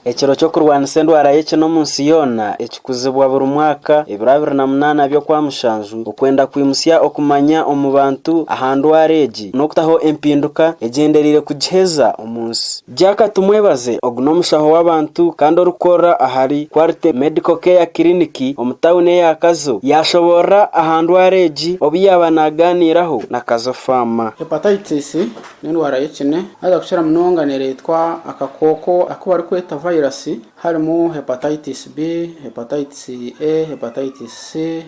Ekiro ky'okurwanisa endwara y'ekina omu nsi yoona ekikuzibwa buri mwaka ebiro abiri na munaana by'okwa mushanju okwenda kwimutsya okumanya omu bantu aha ndwara egi n'okutaho empinduka egyendereire kugiheza omu nsi. Jack Tumwebaze ogu n'omushaho w'abantu kandi orikukorera ahari Quality Medical Care Clinic omu tawuni eya Kazo yaashoboorora aha ndwara egi obu yaaba naagaaniiraho na Kazo Faama. Hepatitis N'endwara y'ekine haza kukira munonga nereetwa akakooko aku barikweta virus harimu Hepatitis B, Hepatitis A, Hepatitis C,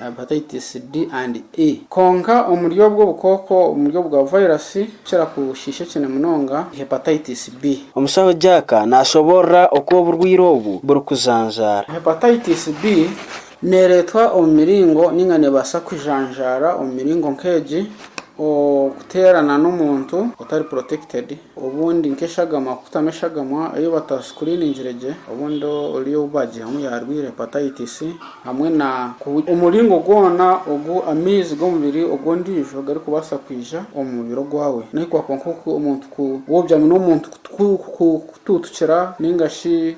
Hepatitis D and E. Kwonka omuri obwo obukooko omuri obwo bwa virus obukira kushiisha ekine munonga ni Hepatitis B. Omushaho Jack naashoboorora oku oburwaire obu burikujanjaara. Hepatitis B Neereetwa omu miringo nainga neebaasa kujanjaara omu miringo nk'egi, Okuteerana n'omuntu otari protected, obundi nk'eshagama kukutamu eshagamwa ei batasikuriiningire gye, obundi ori ou baagyihamu yaarwaire Hepatitis, hamwe na omuringo gwona ogu amaizi g'omubiri ogw'ondiijo garikubaasa kwija omu mubiri ogwawe, nahi kwakuba nk'oku omuntu ku, woogyamu n'omuntu kutuutukira nainga shi.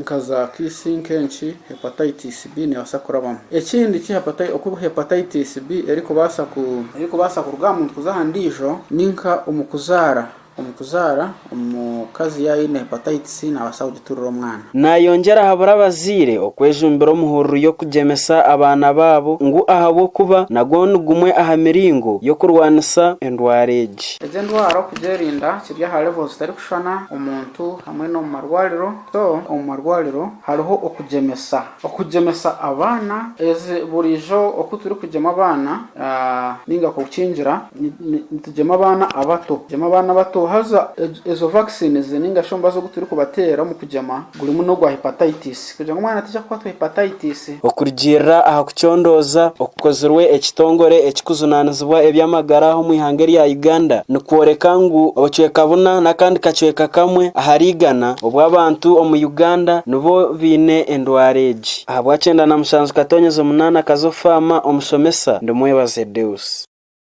nka za kiisi nk'enki hepatitis B neebaasa kurabamu. Ekindi ki hepati oku hepatitis B erikubaasa ku. Erikubaasa kuruga aha muntu kuza aha ndiijo ni nka omu kuzaara. Omu kuzaara, omukazi yaaba aine hepatitis naabaasa kugiturira omwana. Naayongyera ahabura abazaire okwejumbira omuhururu y'okugyemesa abaana baabo ngu ahabw'okuba nagwo ni gumwe aha miringo y'okurwanisa endwara egi. Egi endwara okugyerinda kiri aha level zitari Kushushana omuntu hamwe n'omu marwariro, so omu marwariro hariho okugyemesa. Okugyemesa abaana, ezi buriijo oku turikugyema abaana ninga kukingira nitugyema abaana abato, tugyema abaana abato haza ezo vaccines ninga shi omubazi ogu turikubateera omu kugyema gurimu n'ogwa hepatitis. Kugira ngu omwana ataija kukwatwa hepatitis. Okurugiirira aha kucondooza okukozirwe ekitongore ekikujunaanizibwa eby'amagara omu ihanga erya Uganda nikworeka ngu obucweka buna n'akandi kacweka kamwe ahari igana obw'abantu omu Uganda nibo baine endwara egi. Ahabwa kyenda na mushanju katonyeza omunaana kazo faama omushomesa Ndimwebaze Deus.